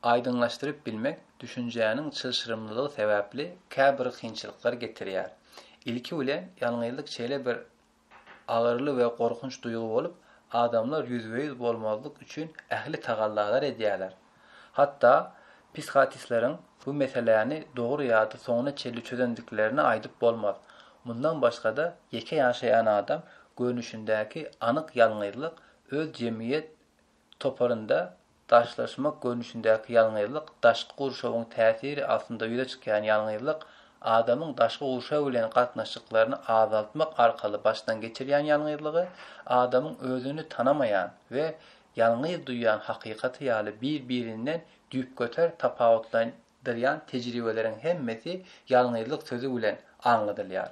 [SPEAKER 1] Aýdyňlaşdyryp bilmek düşünjäniň çylşyrymlylygy sebäpli käbir kynçylyklar getirýär. Ilki bilen, ýalňyzlyk şeýle bir agyryly we gorkunç duýgy bolup, adamlar ýüzbe-ýüz bolmazlyk üçin ähli tagallalar edýärler. Hatda psihatistleriň bu meseläni dogry ýa-da soňuna çenli çözendiklerini aýdyp bolmaz. Mundan başga-da, ýeke ýaşaýan adam görnüşindäki anyk ýalňyzlyk öz jemgyýet toparynda daşlaşmak görnüşindäki ýalňyzlyk, daşky gurşawyň täsiri astynda ýüze çykýan ýalňyzlyk, adamyň daşky gurşaw bilen gatnaşyklaryny azaltmak arkaly başdan geçirýän ýalňyzlygy, adamyň özüni tanamaýan we ýalňyz duýýan hakykaty ýaly bir-birinden düýpgöter tapawutlanýan dyrýan tejribeleriň hemmesi ýalňyzlyk sözi bilen aňladylýar.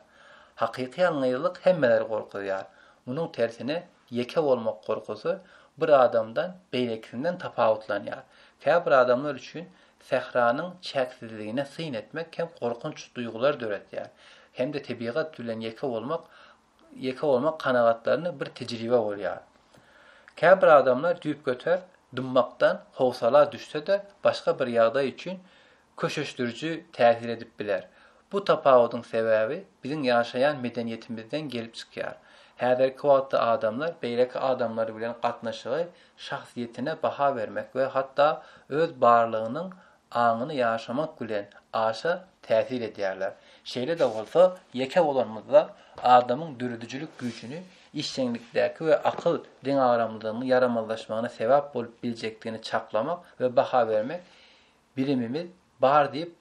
[SPEAKER 1] Hakyky ýalňyzlyk hemmeleri gorkuzýar. Munuň tersine ýeke bolmak gorkusy bir adamdan beýlekisinden tapawutlanýar. Käbir adamlar üçin sähranyň çäksizligine syn etmek hem gorkunç duýgulary döretýär. Hem-de tebigat bilen ýeke bolmak Ýeke bolmak kanagatlaryna bir tejribe bolýar. Käbir adamlar düýpgöter dymmakdan howsala düşse-de, başga bir ýagdaý üçin köşeşdiriji täsir edip biler. Bu tapawudyň sebäbi biziň ýaşaýan medeniýetimizden gelip çykýar. Häzirki wagtda adamlar beýleki adamlar bilen gatnaşygy şahsyýetine baha bermek we hatda öz barlygynyň aňyny ýaşamak bilen aşa täsir edýärler. Şeýle-de bolsa, ýeke bolanymyzda adamyň döredijilik güýjüni, işjeňlikdäki we akyl deňagramlylygynyň ýaramazlaşmagyna sebäp bolup biljekdigini çaklamak we baha bermek bilimimiz bar diýip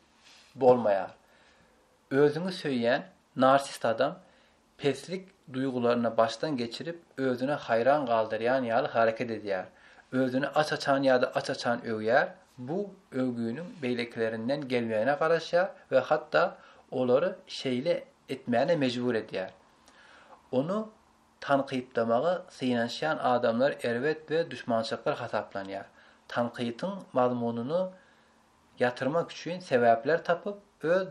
[SPEAKER 1] bolmaýar. Özüňi söýýän narsist adam Peslik duýgularyny başdan geçirip, özüni haýran galdyrýan ýaly hareket edýär. Özüni aç-açan ýa-da aç-açan öwýär, bu öwgüniň beýlekilerinden gelmegine garaşýar we hatda olary şeýle etmäne mejbur edýär. Ony tankytlamaga synanyşýan adamlar erbet we duşmançylyklar hasaplanýar. Tankytyň mazmunyny ýatyrmak üçin sebäpler tapyp, öz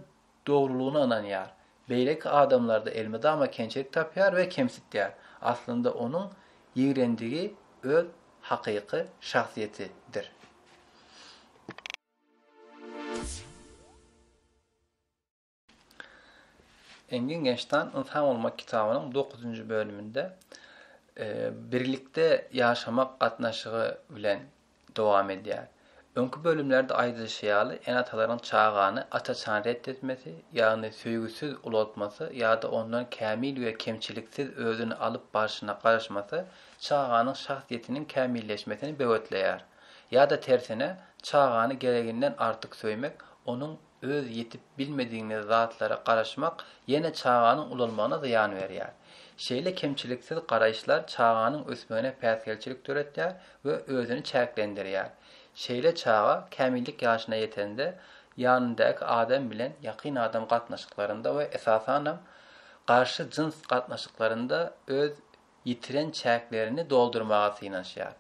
[SPEAKER 1] dogrulygyna ynanýar. Beýleki adamlarda elmydama kemçilik tapýar we kemsitýär. Aslynda onuň ýigrendigi öz hakyky şahsyýetidir. Engin Gençdan Ynsan bolmak kitabynyň dokuzynjy bölüminde birlikde ýaşamak gatnaşygy bilen dowam edýär. Öňki bölümlerde aýdylyşy ýaly, ene-atalaryň çagany aç-açan ret etmesi, ýagny söýgüsiz ulaltmasy ýa-da ondan kämil we kemçiliksiz özüni alyp barşyna garaşmasy çaganyň şahsyýetiniň kämilleşmesini böwetleýär. Ýa-da tersine, çagany gereginden artyk söýmek onuň Öz ýetip bilmedigiňiz zatlara garaşmak ýene çaganyň ulalmagyna zyýan berýär. Şeýle kemçiliksiz garaýyşlar çaganyň ösmegine päsgelçilik döretýär we özüni çäklendirýär. Şeýle çaga kämillik ýaşyna ýetende, ýanyndaky adam bilen ýakyn adam gatnaşyklarynda we esasanam garşy jyns gatnaşyklarynda öz ýitiren çäklerini doldurmaga synanyşýar.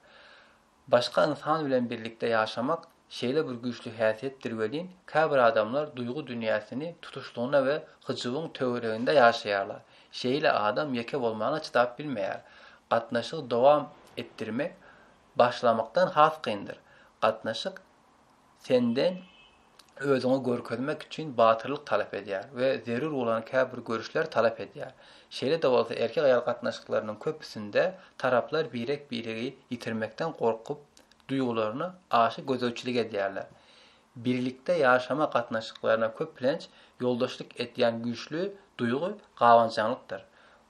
[SPEAKER 1] Başga ynsan bilen birlikde ýaşamak şeýle bir güýçli häsiýetdir welin, käbir adamlar duýgy dünýäsini tutuşlygyna we hyjuwyň töwereginde ýaşaýarlar. Şeýle adam ýeke bolmana çydap bilmeýär. Gatnaşygy dowam etdirmek başlamakdan has kyndyr. Gatnaşyk senden özüňi görkezmek üçin batyrlyk talap edýär we zerur bolan käbir görüşleri talap edýär. Şeýle-de bolsa, erkek-aýal gatnaşyklarynyň köpüsinde taraplar birek-biregi ýitirmekden gorkup, duýgularyna aşa gözegçilik edýärler. Birlikde ýaşama gatnaşyklaryna köplenç ýoldaşlyk edýän güýçli duýgy gabançaňlykdyr.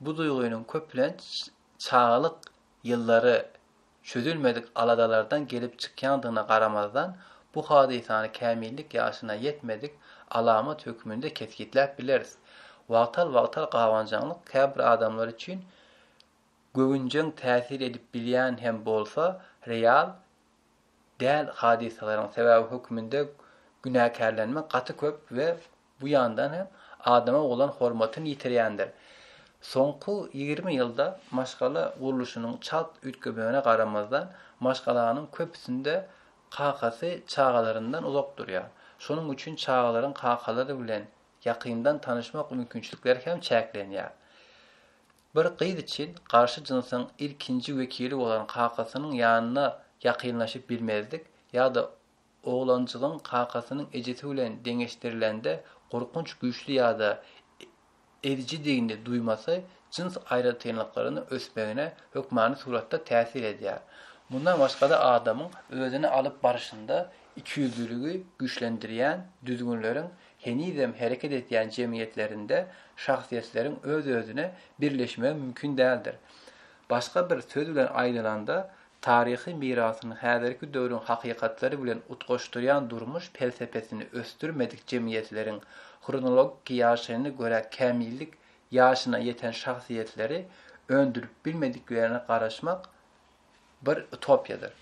[SPEAKER 1] Bu duýgynyň köplenç çagalyk ýyllary çözülmedik aladalardan gelip çykýandygyna garamazdan, bu hadysany kämillik ýaşyna ýetmedik alamat hökmünde kesgitläp bileris. Wagtal-wagtal gabanjaňlyk käbir adamlar üçin göwünjeň täsir edip bilýän hem bolsa, real däl hadysalaryň sebaby hökmünde günäkärlenme gaty köp we Bu ýandan hem adama bolan hormatyny ýitirýändir. Soňky ýigrimi ýylda maşgala gurluşynyň çalt üýtgemegine garamazdan, maşgalanyň köpüsinde kakasy çagalaryndan uzak durýar. Şonuň üçin çagalaryň kakalary bilen ýakyndan tanyşmak mümkinçilikleri hem çäklenýär. Bir gyz üçin garşy jynsyň ilkinji wekili bolan kakasynyň ýanyna ýakynlaşyp bilmezlik ýa-da Oglanjygyň kakasynyň ejesi bilen deňeşdirilende gorkunç güýçli ýa-da ezijidigini duýmasy jyns aýratynlyklarynyň ösmegine hökmany suratda täsir edýär. Mundan başga-da adamyň özüni alyp barşynda ikiýüzlüligi güýçlendirýän düzgünleriň henizem hereket edýän jemgyýetlerinde şahsyýetleriň öz-özüne birleşmegi mümkin däldir. Başga bir söz bilen aýdylanda, taryhy mirasyny häzirki döwrüň hakykatlary bilen utgaşdyrýan durmuş pelsepesini ösdürmedik jemgyýetleriň hronologiki ýaşaýyna görä kämillik ýaşyna ýeten şahsyýetleri öndürip bilmediklerine garaşmak bir utopiýadyr.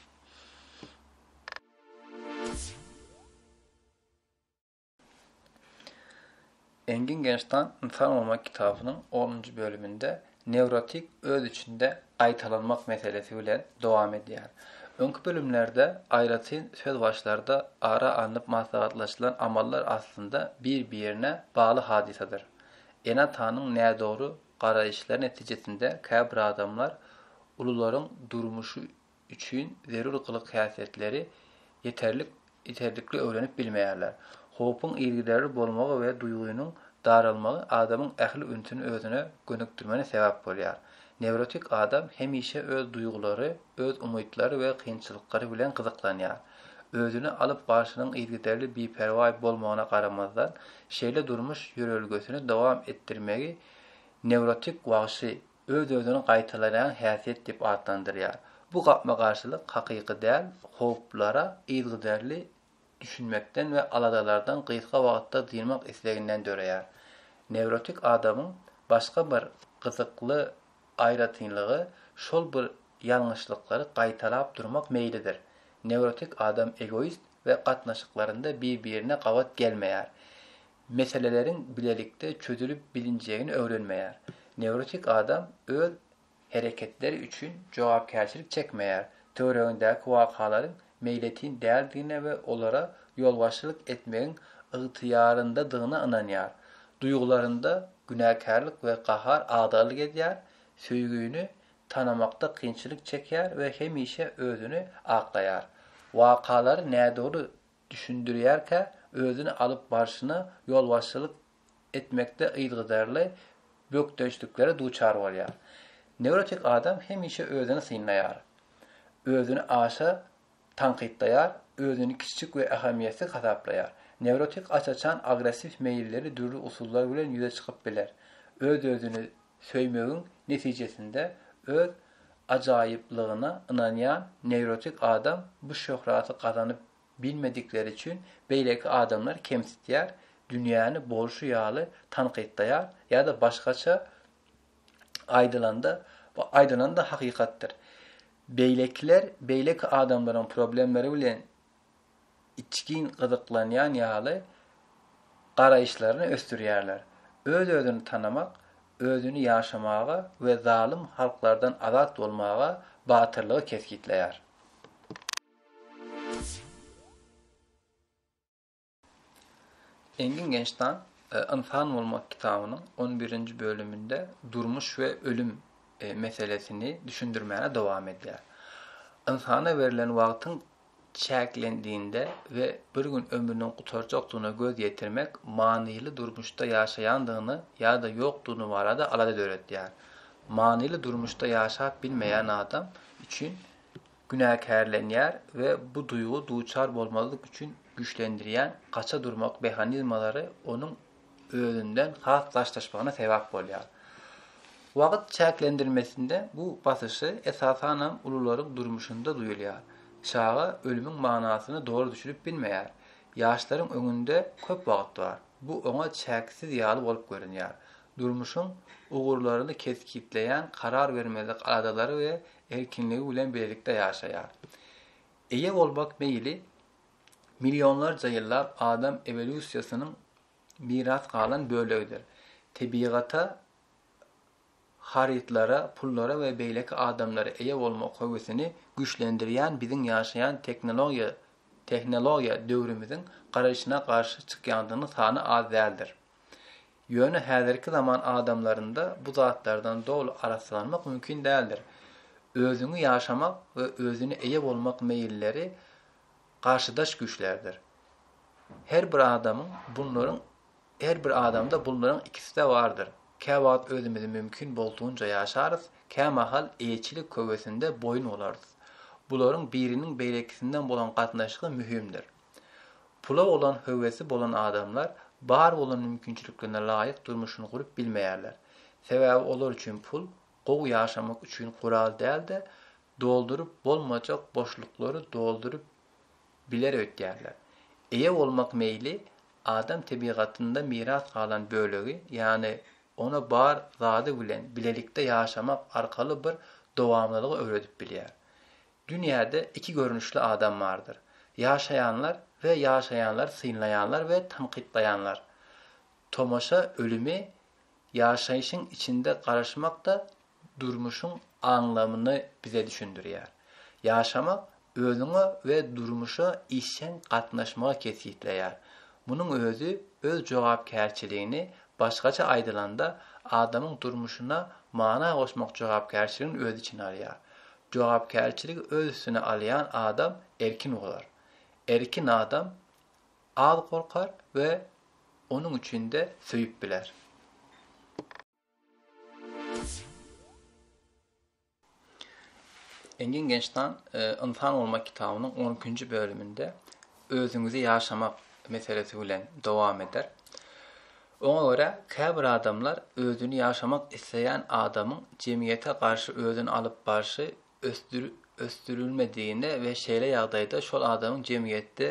[SPEAKER 1] Engin Genştan Ynsan bolmak kitabynyň onunjy bölüminde newrotik öz içinde gaýtalanmak meselesi bilen dowam edýär. Öňki bölümlerde aýratyn söz başlarda ara alnyp maslahatlaşylan amallar aslynda bir-birine bagly hadysadyr. Ene-atanyň nädogry garaýyşlary netijesinde käbir adamlar ulularyň durmuşy üçin zerur gylyk-häsiýetleri ýeterlik ýeterlikli öwrenip bilmeýärler. Howpuň yzgiderli bolmagy we duýgynyň daralmagy adamyň ähli ünsüni özüne gönükdirmene sebäp bolýar. Newrotik adam hemişe öz duýgulary, öz umytlary we kynçylyklary bilen gyzyklanýar. Özüni alyp barşynyň yzgiderli biperwaý bolmagyna garamazdan, şeýle durmuş ýörelgesini dowam etdirmegi newrotik wagşy öz-özüni gaýtalaýan häsiýet diýip atlandyrýar. Bu gapma-garşylyk hakyky däl howplara yzygiderli düşünmekden we aladalardan gysga wagtda dynmak isleginden döreýär. Newrotik adamyň başga bir gyzykly aýratynlygy şol bir ýalňyşlyklary gaýtalap durmak meýlidir. Newrotik adam egoist we gatnaşyklarynda bir-birine gabat gelmeýär. meseleleriň bilelikde çözülip bilinjegini öwrenmeýär. Newrotik adam öz hereketleri üçin jogapkärçilik çekmeýär, töweregindäki wakalaryň meýletin däldigine we olara ýolbaşçylyk etmegiň ygtyýaryndadygyna ynanýar. Duýgularynda günäkärlik we gahar agdarlyk edýär, söýgini tanamakda kynçylyk çekýär we hemişe özüni aklaýar. Wakalary nädogry düşündirýärkä, özüni alyp barşyna ýolbaşçylyk etmekde yzgyderli bökdençliklere duçar bolýar. Newrotik adam hemişe özüni synlaýar, özüni aşa tankytlaýar, özüni kiçijik we ähmiýetsiz hasaplaýar. Newrotik aç-açan agressiw meýilleri dürli usullar bilen ýüze çykyp biler, öz-özüni Söýmegiň netijesinde öz ajaýyplygyna ynanýan newrotik adam bu şöhraty gazanyp bilmedikleri üçin beýleki adamlary kemsitýär, dünýäni bolşy ýaly tankytlaýar ýa-da başgaça aýdylanda, bu aýdylan-da hakykatdyr. Beýlekiler beýleki adamlaryň problemleri bilen içgin gyzyklanýan ýaly garaýyşlaryny ösdürýärler. Öz-özüni tanamak, özüni ýaşamaga we zalym halklardan azat bolmaga batyrlygy kesgitleýär. Engin Gençtan Ynsan bolmak kitabynyň on birinji bölüminde durmuş we ölüm meselesini düşündirmäne dowam edýär. Ynsana berlen wagtyň çäklendiinde we bir gün ömrüniň gutarjakdygyna göz ýetirmek manyly durmuşda ýaşaýandygyny ýa-da ýokdugyny barada alada döretýär. Manyly durmuşda ýaşap bilmeýän adam üçin günäkärlenýär we bu duýgy duçar bolmazlyk üçin güýçlendirýän gaça durmak mehanizmalary onuň özünden has daşlaşmagyna sebäp bolýar. Wagt çäklendirmesinde bu basyşy esasanam ulularyň durmuşynda duýulýar. Çaga ölümiň manysyny doly düşünip bilmeýär. Ýaşlaryň öňünde köp wagt bar. Bu oňa çäksiz ýaly bolup görünýär. Durmuşyň ugurlaryny kesgitleýän karar bermezlik aladalary we erkinligi bilen birlikde ýaşaýar. Eýe bolmak meýli millionlarça ýyllap adam ewolýusiýasynyň miras galan bölegidir. Tebigata, harytlara, pullara we beýleki adamlara eýe bolmak höwesini güýçlendirýän biziň ýaşaýan tehnologiýa tehnologiýa döwrümiziň garaýşyna garşy çykýandygynyň sany az däldir. Ýöne häzirki zaman adamlarynda bu zatlardan doly arassalanmak mümkin däldir. Özüňi ýaşamak we özüne eýe bolmak meýilleri garşydaş güýçlerdir. Her bir adamyň bunlaryň her bir adamda bunlaryň ikisi-de bardyr. Käwagt özümizi mümkin boldugyňça ýaşarys, kämahal eýeçilik höwesinde boýun olarys. Bularyň biriniň beýlekisinden bolan gatnaşygy möhümdir. Pula bolan höwesi bolan adamlar bar bolan mümkinçiliklerine laýyk durmuşyny gurup bilmeýärler. Sebäbi olar üçin pul gowy ýaşamak üçin gural däl-de, dolduryp bolmajak boşluklary dolduryp biler öýtýärler. Eýe bolmak meýli adam tebigatynda miras galan bölegi, ýagny ona bar zady bilen bilelikde ýaşamak arkaly bir dowamlylygy öwredip bilýär. Dünýäde iki görnüşli adam bardyr, ýaşaýanlar we ýaşaýanlary synlaýanlar we tankytlaýanlar. Tomaşa ölümi ýaşaýşyň içinde garaşmak-da durmuşyň aňlamyny bize düşündirýär. Ýaşamak
[SPEAKER 2] özüňe we durmuşa işjeň gatnaşmagy kesgitleýär. Munuň özi öz jogapkärçiligini, başgaça aýdylanda, adamyň durmuşyna mana goşmak jogapkärçiligini öz içine alýar. Jogapkärçiligi öz üstüne alýan adam erkin bolar. Erkin adam az gorkar we onuň üçin-de söýüp biler. Engin Gençtan Ynsan bolmak kitabynyň on ikinji bölüminde özüňizi ýaşamak meselesi bilen dowam eder. Oňa görä, käbir adamlar özüni ýaşamak isleýän adamyň jemgyýete garşy özüni alyp barşy ösdürilmedigine we şeýle ýagdaýda şol adamyň jemgyýetde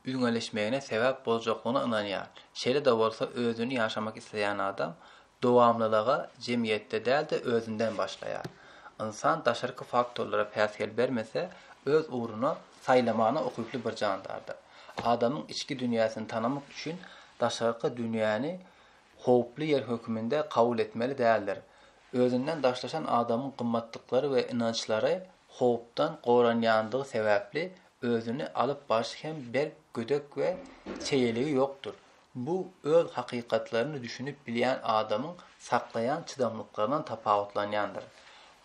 [SPEAKER 2] üýňeleşmegine sebäp boljaklygyna ynanýar. Şeýle-de bolsa, özüni ýaşamak isleýän adam dowamlylyga jemgyýetde däl-de özünden başlaýar. Ynsan daşarky faktorlara päsgel bermese, öz ugruny saýlamagyna ukyply bir jandardyr. Adamyň içki dünýäsini tanamak üçin daşarky dünýäni howply ýer hökmünde kabul etmeli däldir. Özünden daşlaşan adamyň gymmatlyklary we ynançlary howpdan goranýandygy sebäpli özüni alyp barşy hem berk gödek we çeýeligi ýokdur. Bu öz hakykatlaryny düşünip bilýän adamyň saklaýan çydamlyklaryndan tapawutlanýandyr.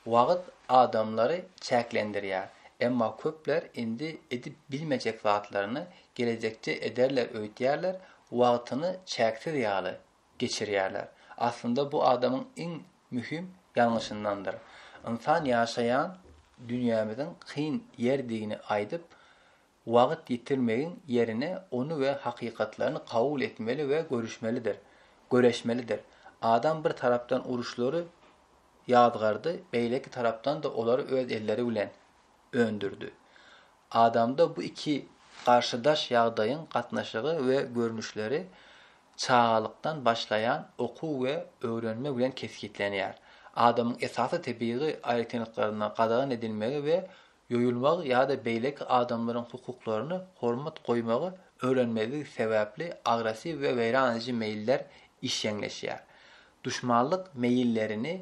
[SPEAKER 2] Wagt adamlary çäklendirýär, emma köpler indi edip bilmejek zatlaryny gelejekde ederler öýtýärler, wagtyny çäksiz ýaly geçirýärler. Aslynda bu adamyň iň möhüm ýalňyşyndandyr. Ynsan ýaşaýan dünýämiziň kyn ýerdigini aýdyp, Wagt ýitirmegiň ýerine ony we hakykatlaryny kabul etmeli we görüşmelidir, göreşmelidir. Adam bir tarapdan uruşlary ýazgardy, beýleki tarapdan-da olary öz elleri bilen öndürdi. Adamda bu iki garşydaş ýagdaýyň gatnaşygy we görnüşleri çagalykdan başlaýan okuw we öwrenme bilen kesgitlenýär. Adamyň esasy tebigy aýratynlyklaryna gadagan edilmegi we ýoýulmagy ýa-da beýleki adamlaryň hukuklaryna hormat goýmagy öwrenmezligi sebäpli agressiw we weýran ediji meýiller işjeňleşýär. Duşmanlyk meýillerini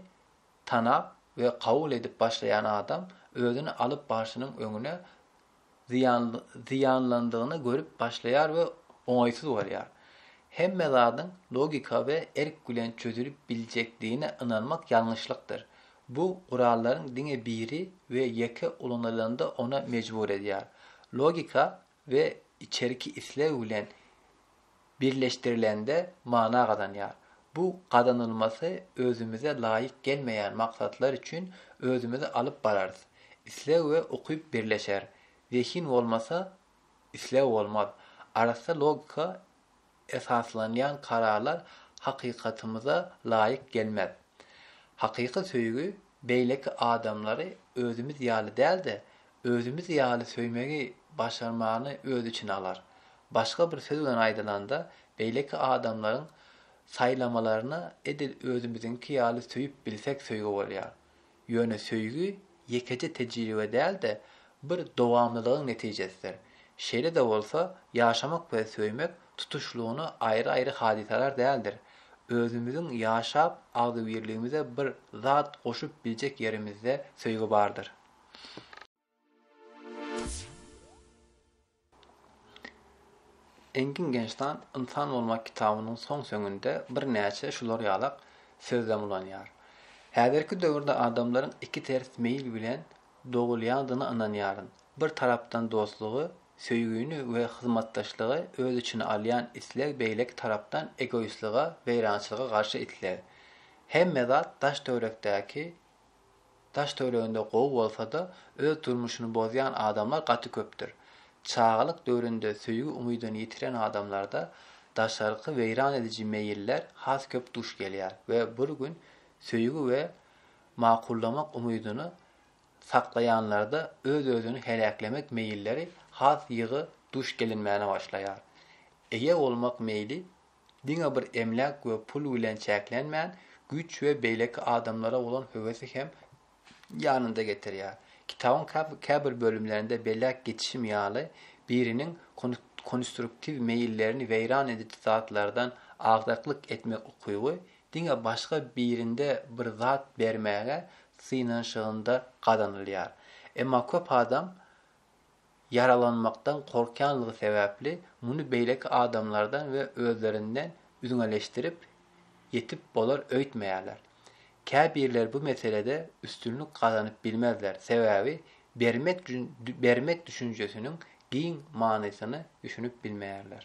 [SPEAKER 2] tanap we kabul edip başlaýan adam özüni alyp barşynyň öňüne zyýanlandygyny görüp başlaýar we oňaýsyz bolýar. Hemme zadyň logika we erk bilen çözülip biljekdigine ynanmak ýalňyşlykdyr. Bu gurallaryň diňe biri we ýeke ulanylanda ona mejbur edýär. Logika we içerki isleg bilen birleşdirilende mana gazanýar. Bu gazanylmasy özümize laýyk gelmeýän maksatlar üçin özümizi alyp bararys. Isleg we ukyp birleşer. Zehin bolmasa, isleg bolmaz. Arassa logika esaslanýan kararlar hakykatymyza laýyk gelmez. Hakyky söýgi beýleki adamlary özümiz ýaly däl-de, özümiz ýaly söýmegi başarmagyny öz içine alar. Başga bir söz bilen aýdylanda, beýleki adamlaryň saýlamalaryny edil özümiziňki ýaly söýüp bilsek söýgi bolýar. Ýöne söýgi ýekeje tejribe däl-de, bir dowamlylygyň netijesidir. Şeýle-de bolsa, ýaşamak we söýmek tutuşlygyna aýry-aýry hadysalar däldir. Özümiziň ýaşap, agzybirligimize bir zat goşup biljek ýerimizde söýgi bardyr. Engin Gençtan Ynsan bolmak kitabynyň soň-soňunda birnäçe şular ýalak sözlem ulanýar. Häzirki döwürde adamlaryň iki ters meýil bilen dogulýandygyna ynanýaryn. Bir tarapdan dostlugy, söýgini we hyzmatdaşlygy öz içine alýan isleg beýleki tarapdan egoistlige, weýrançylyga garşy isleg. Hemme zat daş-töwerekdäki Daş-töwereginde gowy bolsa-da, öz durmuşyny bozýan adamlar gaty köpdür. Çagalyk döwründe söýgi-umydyny ýitiren adamlarda daşarky weýran ediji meýiller has köp duş gelýär we bir gün söýgi we makullamak umydyny saklaýanlarda öz-özüni heläklemek meýilleri has ýygy duş gelinmäne başlaýar. Eýe bolmak meýli Diňe bir emläk we pul bilen çäklenmän, güýç we beýleki adamlara bolan höwesi hem ýanynda getirýär. Kitabyň käbir bölümlerinde belläp geçişim ýaly, biriniň konstruktiw meýillerini weýran ediji zatlardan agdaklyk etmek ukyby diňe başga birinde bir zat bermäge synanyşygynda gazanylýar. Emma köp adam
[SPEAKER 1] ýaralanmakdan gorkýanlygy sebäpli muny beýleki adamlardan we özlerinden üzňeleşdirip, ýetip bolar öýtmeýärler. Käbirleri bu meselede üstünlik gazanyp bilmezler, sebäbi bermek bermek düşünjesiniň giň manysyny düşünip bilmeýärler.